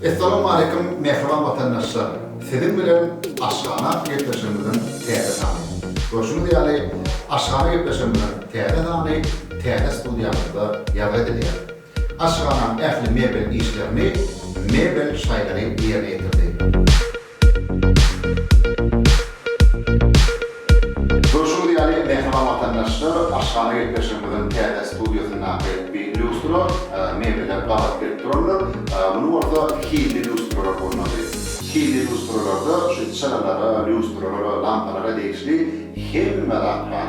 Essalamualeýkum mähriban watandaşlar! Siziň bilen Aşhana atly gepleşigimiziň täze sany. Görşüňiz ýaly, Aşhana gepleşigimiziň täze sany täze studiýamyzda ýazgy edilýär. Aşhanam ähli mebel işlerini mebel şaýlary ýerine ýetirdi. Görşüňiz ýaly, mähriban watandaşlar, aşhana gepleşigimiziň täze studiýasyndaky bi lýustra mebeler gabat gelip durandyr. Muny bolsa hilli lýustralar bolmaly. Hilli lýustralarda şu çyralara, lýustralara, lampalara degişli hemme zat bar.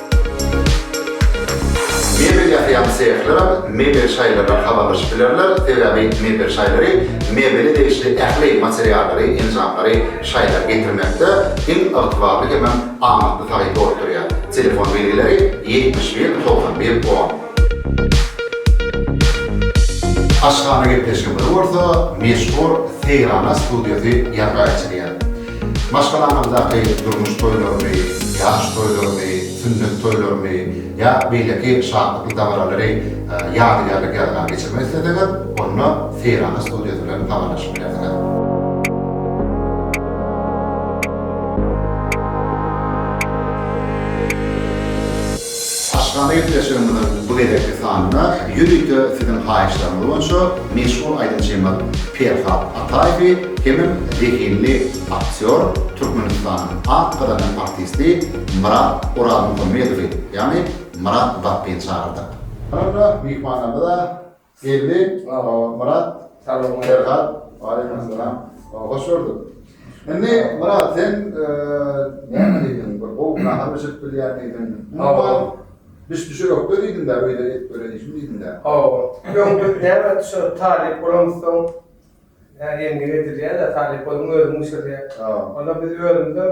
Mebel ýasaýan sehler hem mebel şaýlardan habarlaşyp bilerler, sebäbi mebel şaýlary mebele degişli ähli materiallary, enjamlary şaýlara getirmekde iň ygtybarly hemem amatly taýyn bolup durýar. Telefon belgileri ýetmiş bir, togsan bir, on. Aşhana gepleşigimizi bolsa meşhur Seýrana studiýasy ýazga geçirýär. Maşgalanyňdaky durmuş toýlaryny, ýaş toýlaryny, sünnet toýlaryny ýa beýleki şatlykly dabaralary ýadygärlik ýazgara geçirmek isleseňiz, onda Seýrana studiýasy bilen habarlaşyp bilersiňiz. Aşgabada gepleşigimiziň bu gezekki sanynda ýörite siziň haýyşlaryňyz boýunça meşhur aýdymçymyz Perhat Ataýewi hemem zehinli aktýor, Türkmenistanyň at gazanýan artisti Myrat Orazmuhammedowy, ýagny Myrat Batbyny çagyrdyk. Soňra myhmanlarymyza Geldi Myrat Salam Ferhat Waleýkim Salam Hoş gördük Indi Myrat sen näme diýdiň bir gowy nahar bişirip bilýän diýdiň Hawa Biz düşe ýokda diýdiň da öýde et böleýişim diýdiň da Hawa Ýok biz näme şu talyp bolamyzsoň Endik edilýär-de talyp boluň özüň bişirýär Onda biz özümizem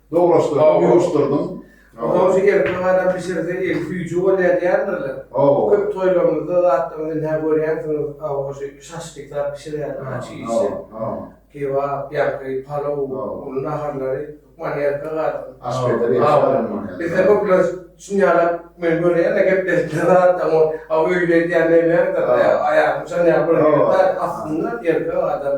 Doglaşdyrdyň, ýuwuşdyrdyň. Ondan şu gelip bir adam bişirse el süýji bolýar diýýändirler. Köp toýlarymyzda zatdan ünhä görýänsiňiz, aw şu şaşlyk zat bişirýärler ha çig işi. Kebap, ýaňky palaw, ol naharlary hökman erkek adam. Aşpezler ýaşaýar. Bizde köpler şunýalap men görýän-de gepleşikde zatdan ol aw öýli edýän näme ýagdaýda aýagyny çalaýar. Aslynda erkek adam.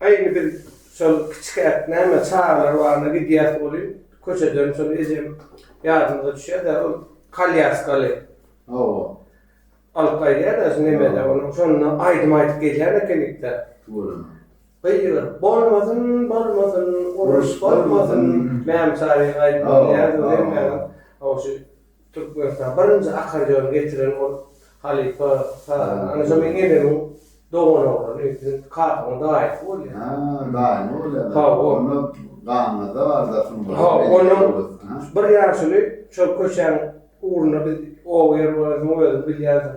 Aý indi biz şol kiçikäk näme çagalar baryna gidýäs welin, köçeden şol ejem ýadymyza düşýär-de, ol kalýaskaly. Hawa. Alyp gaýdýar-da şu nemede ony. Şonda aýdym aýdyp gelýän ekenik-dä. Tüweleme. Gygyryp bolmasyn, bolmasyn, uruş bolmasyn, Mämşa diýen aýdym gelýärdi welin, ýaňam, hawa şu. Türkmenistana birinji akkordeony getiren ol halypa sazanda. Anaja meň enemiň dogan oglany, siziň kakaňyň daýysy bolýar. Ha, daýymy bolýar. Hawa. Onda ganynda bar zat şunuň. Hawa, onuň bir ýaşuly şol köçäň ugrunda biz oba ýer bolansoň özüň bilýänsiň.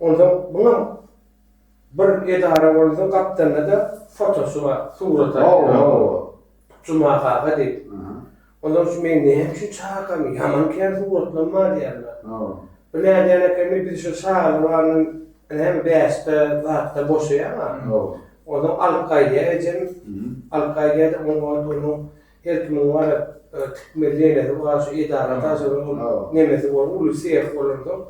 Onsoň muňam bir edara bolsa gapdalynada fotosy bar surata Juma kaka diýip. Ondan şu meni näme üçin çagyrypkamy ýaman kän suratlam bar diýýärler. Bir nädýän ekeni biz şu çaga baryndan näme bäşde zatda boşaýaňa onsoň alyp gaýdýar ejem alyp gaýdýada onuň ortuny her kimiň bar tikmeli ýenesi bar şu edara daşadan nemesi bor uly seh bolansoň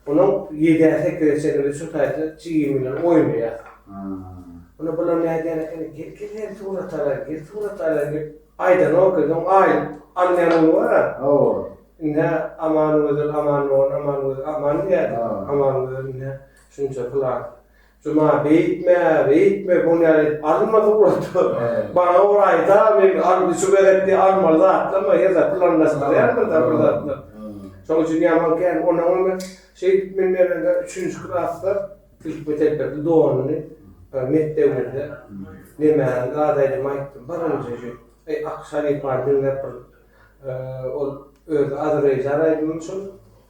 Onuň ýedä sekizä çenli biz şu taýda jigim bilen oýnaýas. Onda bular nädýän ekeni, gel gel hem surat alaýyn, gel surat alaýyn diýip aýdanok edi. Oň aýyp alynýan uly bar-a. Hawa. Ine Amangözel, Amandogan, Amangözel, Aman diýýärdi. Amangözel ine şunça plan. Juma beýtme, beýtme, bu nädip alynmaz ugrady. Maňa bir aýda, men alyn, şu gezekki almaly zatlama, her zat planlaşdyrýarmyz-da bir zatlar. Şoň üçin ýaman kän. Onnoň hem men şeýdip men berende üçünji klasda ilki telpekli donuny bir mekdebimizde nemäniň gadaýdygyny aýtdym. Birinji şu Ak halypany diňläp bir ol özi Azerbaýjan aýdymymy şol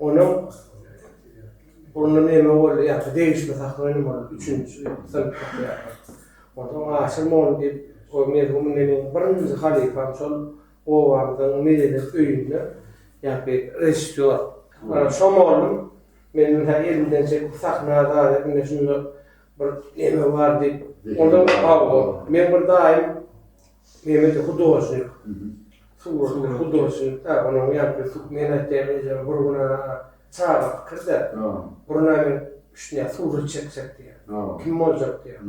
Onuň onda meme boldy ýa-da degişme sahna önüm boldy, üçünji ýylda synyp çykýarlar. Onsoň aşyr mol diýip, o merhum menden öň birinji halypam şol obamyzyň medeniýet öýünde ýa-da režissýor. Şo mollum meni hä elimden çekip sahna daýy ine şunda bir neme bar diýip, onda hawa, meň bir daýym, Mehmete hudožnik, suratda hudožnik da, onuň ýaňky su, men aýtýan ejem bir gün a, çaga pikirde, bir gün a men üşdünýän surat çekjek diýýän. Kim boljak diýýän.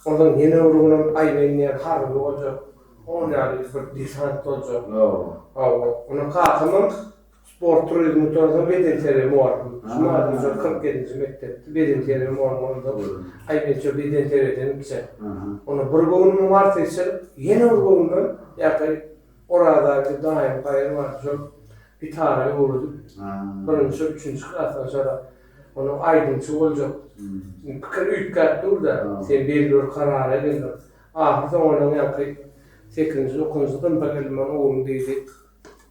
Onsoň ýene bir gün hem aýlaýyn diýýän harby boljak, ol ýaly bir desant boljak. Hawa. Onda kakam hem Sport turizmi Toraza bedenterbiýe mugallym. Juman Gurje kyrk ýedinji mekdepde bedenterbiýe mugallym boldy. Aý men şo bedenterbiýeden gitse. Onda bir göwnüm bar seçilip, ýene bir göwnümem ýaky Orazaly daýym Kaýar bardy. Şol gitara öwredip, birinji, üçünji klasdan aşarak onuň aýdymçy boljak pikiri üýtgäp dur-da, sen belli bir karara geldiň. Ahyrsoňy onuň ýaňky sekizinji, dokuzynjy synpa geldim, Onuň ogly diýdi.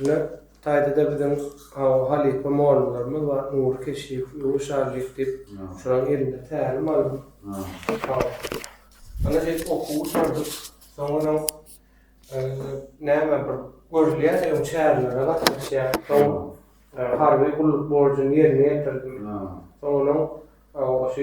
Ine, bu taýda-da biziň aw halypa mollalarymyz bar, Nury Keşiýew, Ýuwuş Allyýew diýip, şolaryň elinde tälim aldym. Aw. Ana diýip okuw gutaryp, soňunam näme bir görülýär, öň çärelere gatnaşýar, soň harby gulluk borjuny ýerine ýetirdim. Soňunam, aw, şu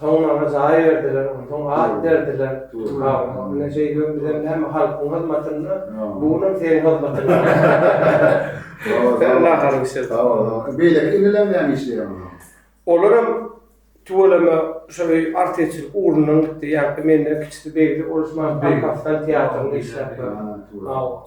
Soňra jaý berdiler, onsoň at berdiler. Ine şeýdibem bizem näme halkyň hyzmatynda, bu günüm seniň hyzmatyňda. Alla halyp işlesin. Sag bol. Beýleki iniler näme işleýär onda? Olaram tüweleme şol öý artistçilik ugrundan gitdi. Ýa-da menden kiçisi Begli, ol şu Balkastan teatrynda işläpdir. Hawa.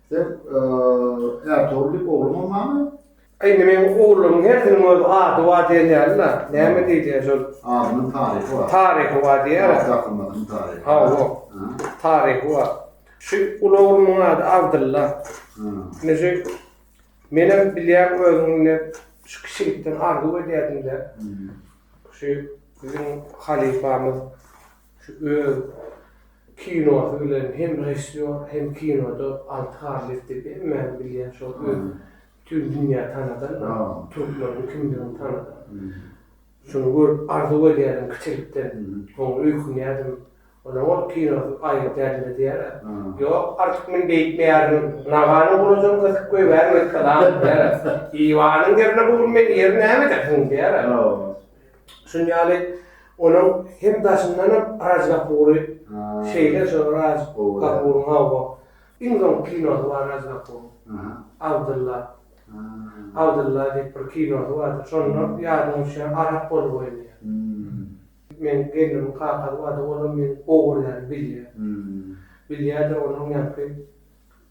Sen Ertogul diýip ogluň bolmamy? Indi meň ogluň hersiniň öz ady bar diýen ýaly-la. Näme diýilýär şol? Adynyň taryhy bar. Taryhy bar diýýär. Wagt akymynyň taryhy. Hawa. Taryhy bar. Şu uly oglumyň ady Abdylla. Indi şu menem bilýän özüň indi şu kiçilikden arzuw edýärdim-de. Şu biziň halypamyz Şu öz kinosy bilen hem režissýor hem kinoda Alty Garlyýew diýip hemmäniň bilýän şol öz bütin dünýä tanadan türkmeniň kimdigini tanadan. Şuny görüp arzuw edýärdim kiçilikden. Soň öýkünýärdim. Onuň ol kinosy aýgyt ädildi diýýär-ä. Ýok, artyk men beýtmeýärin. Nagany gurajam gysyp goýbärin wessalam diýýär-ä. Iwanyň ýerine bu gün meni ýeri näme edersiň diýýär-ä. Şuny ýaly onuň hem daşyndanam Raj Kapury şeýle şu Raj Kapuryň hawa iň soňky kinosy bar Raj Kapuryň Abdylla Abdylla diýip bir kinosy bardyr şonda ýadyňa düşýän arap bolup oýnaýar. Meniň gelnimiň kakasy bardy olam meniň ogullarymy bilýär. Bilýärdir onuň ýaňky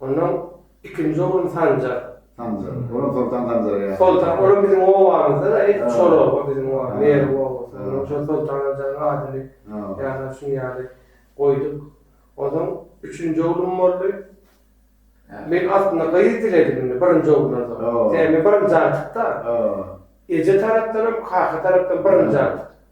Ondan ikinji oglum Sanjar. Sanjar. Olam Soltan Sanjara ýaşaýar. Soltan. Olam biziň obamyzda-da, edil şol oba, biziň oba, Merw obasy. Ondan şol Soltan Sanjaryň adyny ýa-da şuny ýaly goýduk. Onsoň üçünji oglum boldy. Men aslynda gyz diledim indi birinji oglansoň. Sebäbi men birinji agtyk-da. Eje tarapdanam, kaka tarapdanam birinji agtyk.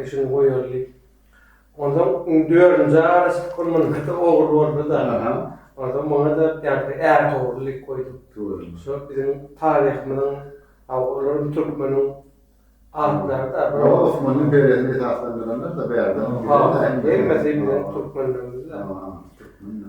Eşini goýarly. Onsoň iň dördünji araçlyk bol munyňkyda ogul boldy-da. Onsoň muňa-da ýagşy är towry diýip goýduk. Dördünji. Şo biziň taryhymyzyň aw olaryň türkmeniň atlary-da. Ýok, Osmanyň deresini esaslandyranlar-da bärde. Hemmesi biziň türkmenlerimiz-de. Türkmen-de.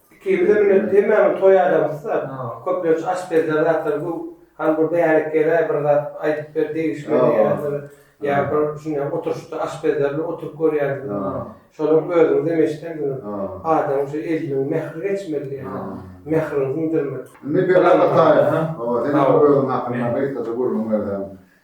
Iki bize münüp hemmämiz toý adamysda köplenç aşpezler zatlar bu hany bir bärik gel-ä bir zat aýdyp ber degişmeli ýa bir ýa bir şuny oturyşda aşpezler bilen oturyp görýäris şonuň özüňiz hem eşidensiňiz adamyň şu eliniň mähri geçmeli ýa mähriňi siňdirmeli. Indi Berat Ataýew, sen hem özüň hakynda gysgaça gürrüň berseň.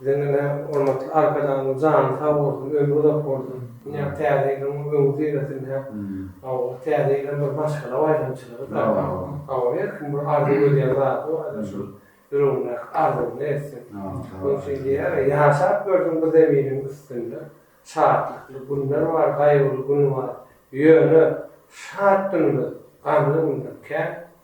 Siziň ine hormatly Arkadagymyz jany sag bolsun, ömri uzak bolsun. Ine täze ýylyň öňi süresinde hawa täze ýyl hem bir maşgala baýramçylygy hawa her kim bir arzuw edýän zady bar ine şol ýüregindäki arzuwyny etsin. Şonuň üçin diýýärler ýaşap gördüň bu zeminiň üstünde şatlykly günler bar, gaýgyly gün bar. Ýöne şat günümiz gamly günden kän.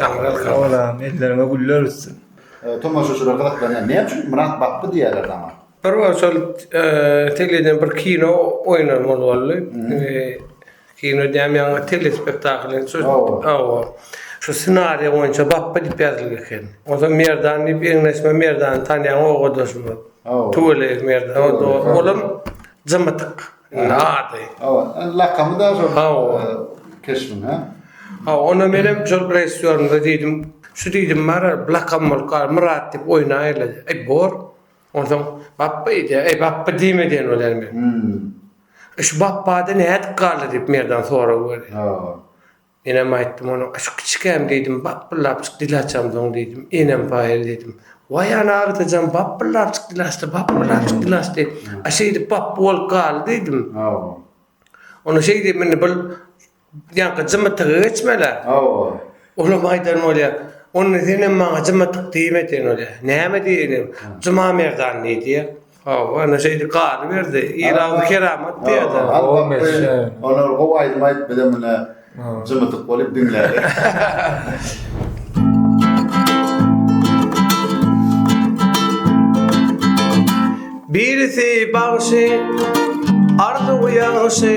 Taňra sag bol agam elleriňe güller üstün. Tomaşaçylar gyzyklanýar. Näme üçin Myrat batdy diýýärler saňa? Bir gün şol teleden bir kino oýnan bol boldy. Kino diýýän ýaňy telespektakl indi şo hawa. Şu ssenariýa boýunça Bappa diýip ýazylgy eken. Onsoň Merdan diýip eňleşme Merdany tanýaň owadoşymyz. Hawa. Tüweleýew Merdan. Olam jymytyk. Nady. Hawa, lakamy da şol. Hawa. Keşbiň, ha? Ha, onda men hem şol režissýorymyza diýdim, şu diýdim bara lakam bolup gal, Myrat diýip oýnaýla. Eý, bor. Onsoň Bapba diýdi. Eý, Bapba diýme diýen bolýan men. Hmm. Şu Bapbada nädip galdy diýip Merdan sorag berdi. Hawa. Enem aýtdym onuň şu kiçikäm diýdim bapbyllapjyk dil açamsoň diýdim enem paýyl diýdim waý ana agtajan bapbyllapjyk dil açdy bapbyllapjyk dil açdy a şeýdip bapby bolup galdy diýdim hawa onda şeý diýdim indi bul ýaňky jymytygy geçmelä hawa olam aýdan bolýar onda senem maňa jymytyk diýme sen bolýa näme diýenim jumamerdan diýdi. Hawa, ana şeýdi galy berdi. Ir agzy keramat diýerdi. Al wagty, olar gowy aýdym aýdyp bize mine jymydyk bolup diňlädik. Birisi bagşy, Arzuw ýagşy.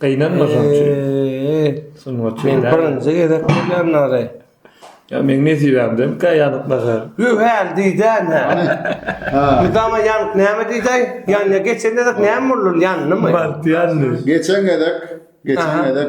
Gynanmasaňçy. Sungatçy. Men birinji gezek görýän nary. Ýa meň nesibämden kä ýanyk nahar. Hü häl diýdäýmä. Ha. Mydama ýanyk näme diýdäý? Ýanýa geçen gezek näme boldy ol ýandymy? Bagt ýandy. Geçen gezek, geçen Aha. gezek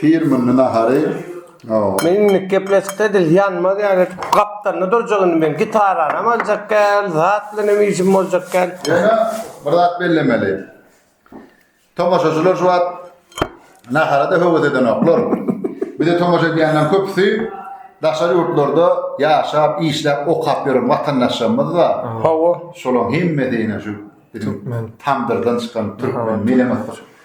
Firmynly nahary. Men indik gepleşikde edil ýanmaz ýaly gapdalynda durjak indi men gitaranam aljak gel zat bilenem işim boljak gel. Ýöne bir zat bellemeli. Tomaşaçylar şu wagt naharada höwes edenoklar. Bize tomaşa edýänleriň köpüsi daşary ýurtlarda ýaşap, işläp, okap ýören watandaşlarymyz da. Hawa. Şolaň hemmesi ine şu biziň tamdyrdan çykan türkmen mele-myssyk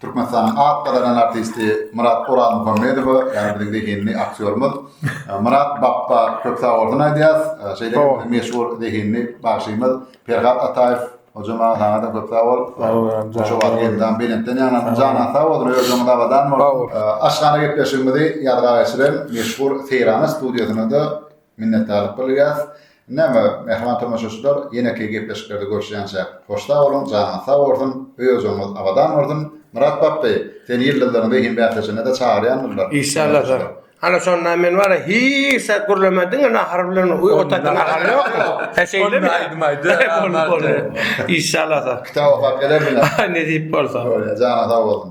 Türkmenistanyň at gazanan artisti Myrat Orazmuhammedowa, ýagny biziň zehinli aktýorymyz Myrat Bapba köp sag bolsun aýdýarys. Şeýle hem meşhur zehinli bagşymyz Perhat Ataýew Hojama saňa-da köp sag bol. Şu wagt elden belentden ýaňlansyn. Janyň sag bolsun, ömrüň abadan bolsun. Aşhana gepleşigimizi ýazga geçiren meşhur Seýrana studiýasyna-da Minnetdarlyk bildirýäris. Näme, mähriban tomaşaçylar, ýeneki gepleşiklerde görüşýänçäk, hoş sag boluň, janyňyz sag bolsun, öý-ojagyňyz abadan bolsun! Myrat Bapby, seni ýyldyzlaryň zehin bäsleşigine-de çagyrýandyrlar. Işşalladyr. Hany şonda men wara hiç zat gürlemän diňe nahar bilen otatyň ahal ýokmy? Hä şeýlemi? Onda aýdym aýda. Bolup boldy. Işşalladyr. Kitap okap gelerdiňä. Nesip bolsa. Bolýar, janyň sag bolsun.